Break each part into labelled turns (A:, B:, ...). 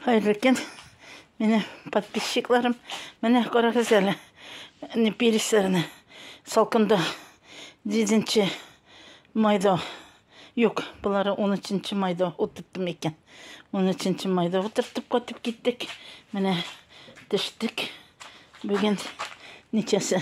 A: Хәерле көн. Менә подписчикларым, менә карагыз әле. Не пересерне. Салкында 7 майда. Юк, булары 13 майда утырттым икән. 13 майда утырттып кайтып киттек. Менә төштек. Бүген ничәсе?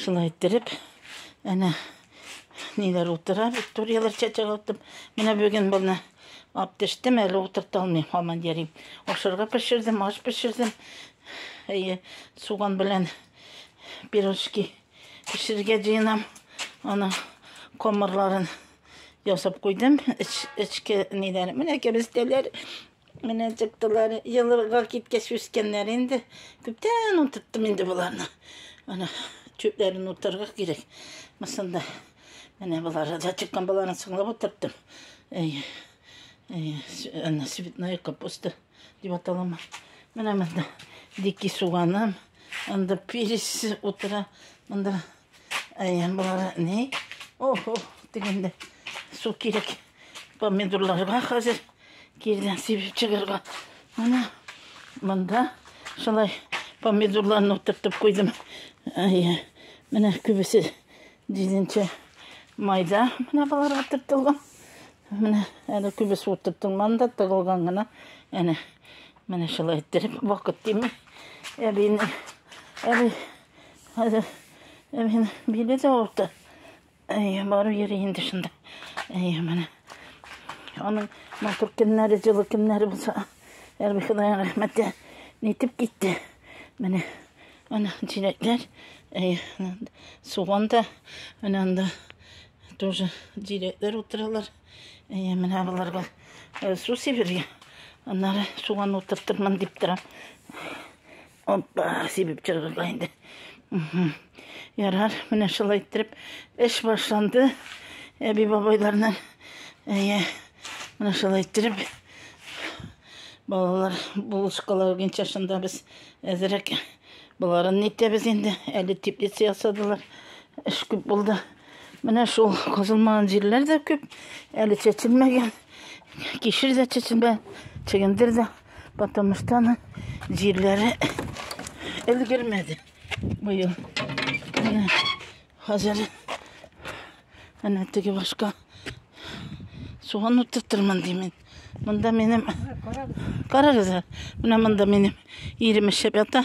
A: Шулай иттереп, әнә ниләр утыра, викторияләр чәчәк аттым. Менә бүген баны ап төштем, әле утырта алмыйм, һаман йөрим. Ашарга пешердем, аш пешердем. Әйе, суган белән пирожки пешерергә җыенам. Аны комарларын ясап куйдым. Эч, эчке ниләр. Менә кәбестәләр Менә чыктылар. Елга киткәч үскәннәр инде. Күптән утырттым инде боларны. Ана чүпләрен утырга кирәк. Мысында. Менә болар да чыккан боларны соңлап утырттым. Әй. Әй, ана цветная капуста дип аталама. Менә монда дикий суганым. Анда перец утыра. Монда Әйе, болар ни? Охо, дигәндә су кирәк. Помидорларга хәзер кирдән сибеп чыгарга. Менә монда шулай помидорларны утыртып куйдым. Әйе, менә күбесе дизенчә майда менә болар утыртылган. Менә әле күбесе утыртылман да тыгылган гына. Әнә менә шулай иттереп вакыт тими. Әбине, әби Хәзер э, мин биле дә авырта. Әй, бару йөри инде шунда. Әй, менә. Аның матур көннәре, җылы көннәре булса, Ярби Ходай рәхмәте нитеп китте. Менә ана җиләкләр, әй, суган да, менә анда тоже җиләкләр утыралар. Әй, менә боларга э, су сибергә. Аннары суган утыртырмын дип торам. Оппа, сибеп чыгырга инде. Ярар, менә шулай иттереп эш башланды. Әби бабайларның әйе, менә шулай иттереп балалар булышкалар буенча шунда без әзерәк боларын нитәбез инде. Әле теплица ясадылар. Эш күп булды. Менә шул казылмаган җирләр дә күп. Әле чәчелмәгән. Кишер дә чәчелмәгән. Чөгендер дә. Потому что она җирләре өлгермәде быел. Менә хәзер әнә теге башка суган утыртырмын димен. Монда минем карагыз, менә монда минем ирем эшләп ята.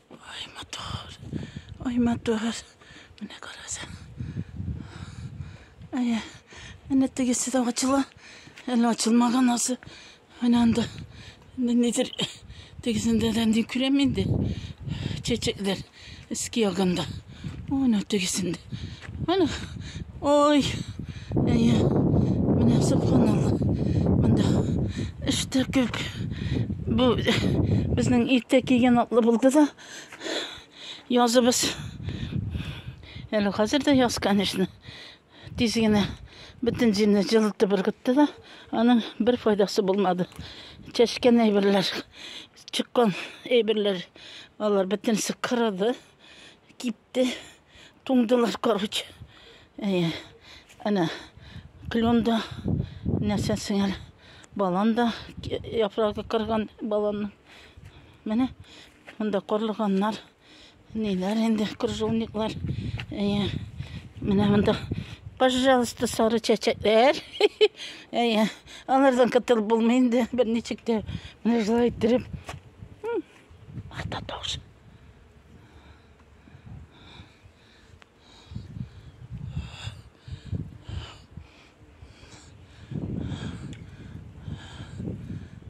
A: Ай матур, ай матур. Менә караса. Әйе. Әнә тегесе дә ачыла. Әле ачылмаган асы. Менә анда. Нидер тегесендә дә ни күрәм инде. Чәчәкләр. Иске ягында. Ана тегесендә. Ана. Ой. Әйе. Менә субханалла. Монда эштә күп. Бу безнең иртә кигән атлы булды да. Языбыз. Әле хәзер дә яз, конечно. Тиз генә бөтен җирне җылытып ыргытты да, аның бер файдасы булмады. Чәчкән әйберләр, чыккан әйберләр, алар бөтенесе кырылды. Кипте. Туңдылар, короче. Әйе. Әнә клен да нәрсә сеңәр. Балан да яфрагы кырган баланның. Менә монда корлыганнар. Ниләр инде крыжовниклар. Әйе. Менә монда Пожалуйста, сары чәчәкләр. Әйе. Алардан кытыл булмый инде. Берничек тә менә шулай иттереп. Ата таушы.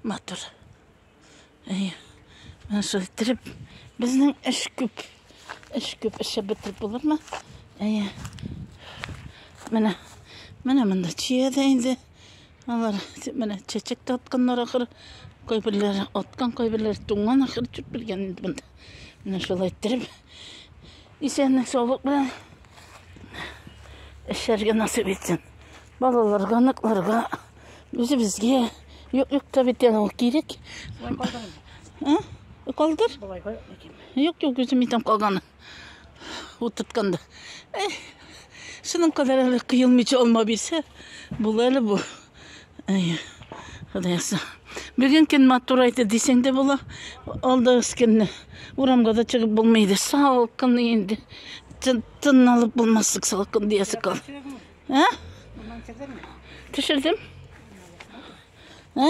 A: матур әйе менә шулай иттереп безнең эш күп эш күп эшеп бетереп булырмы әйе менә менә монда чия дә инде Алар менә чәчәк тә атканнар ахыр. Кайберләр аткан, кайберләр туңган ахыр дип белгән инде монда. Менә шулай иттереп. Исәнлек саулык белән эшләргә насыйп итсен. Балаларга, ныкларга, үзебезгә юк юк та бит ул кирәк. Калдыр. Юк юк үзем итәм калганы. Ут тотканда. Эй, шуның кадәр әле кыелмыйча алма бирсә, була әле бу. Эй, Худаяса. Бүген көн матур айды дисәң дә була. Алда өскенне. Урамга да чыгып булмый иде. Салкын инде. Тын алып булмаслык салкын диясе кал. Ә? Төшердем. Ә?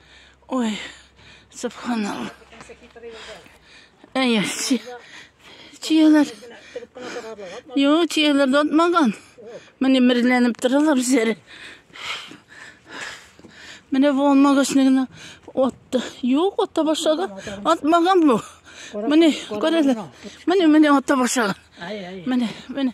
A: Ой, субханалла. Әйе, чияләр. Йо, чияләр дә атмаган. Менә мерләнеп торалар үзләре. Менә бу алмагачны гына атты. Юк, атта башлады. Атмаган бу. Менә, күрәләр. Менә, менә атта башлады. Менә, менә.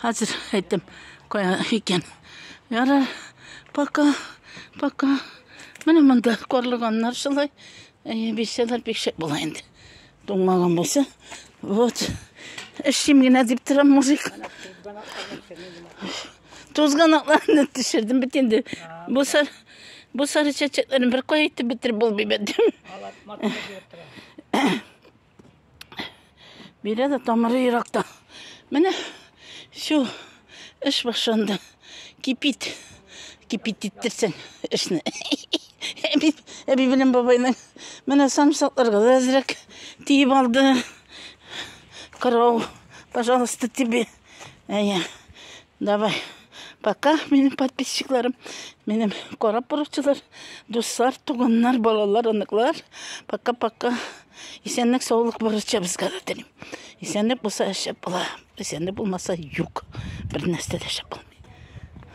A: Хәзер әйтәм, кая икән. Ярар, пока, пока. Менә монда карлыганнар шулай. Әйе, бисәләр бик шәп була инде. Туңмаган булса. Вот. Эшлим генә дип торам мужик. Тузганакларны төшердем бит инде. Бу сар бу сары чәчәкләрне бер кая итеп бетереп булмый бит. Бирә дә тамыры еракта. Менә шул эш башланды. Кипит. Кипит иттерсен эшне. Әби, әби белән бабайның менә самсакларга да әзрәк тиеп алды. Карау, пожалуйста, тебе. Әйе. Давай, пока, минем подписчикларым, минем карап баручылар, дуслар, туганнар, балалар, оныклар. Пока-пока. Исәнлек, саулык барыча безгә дә телим. Исәнлек булса шәп була, исәнлек булмаса юк. Бер нәрсә дә шәп булмый.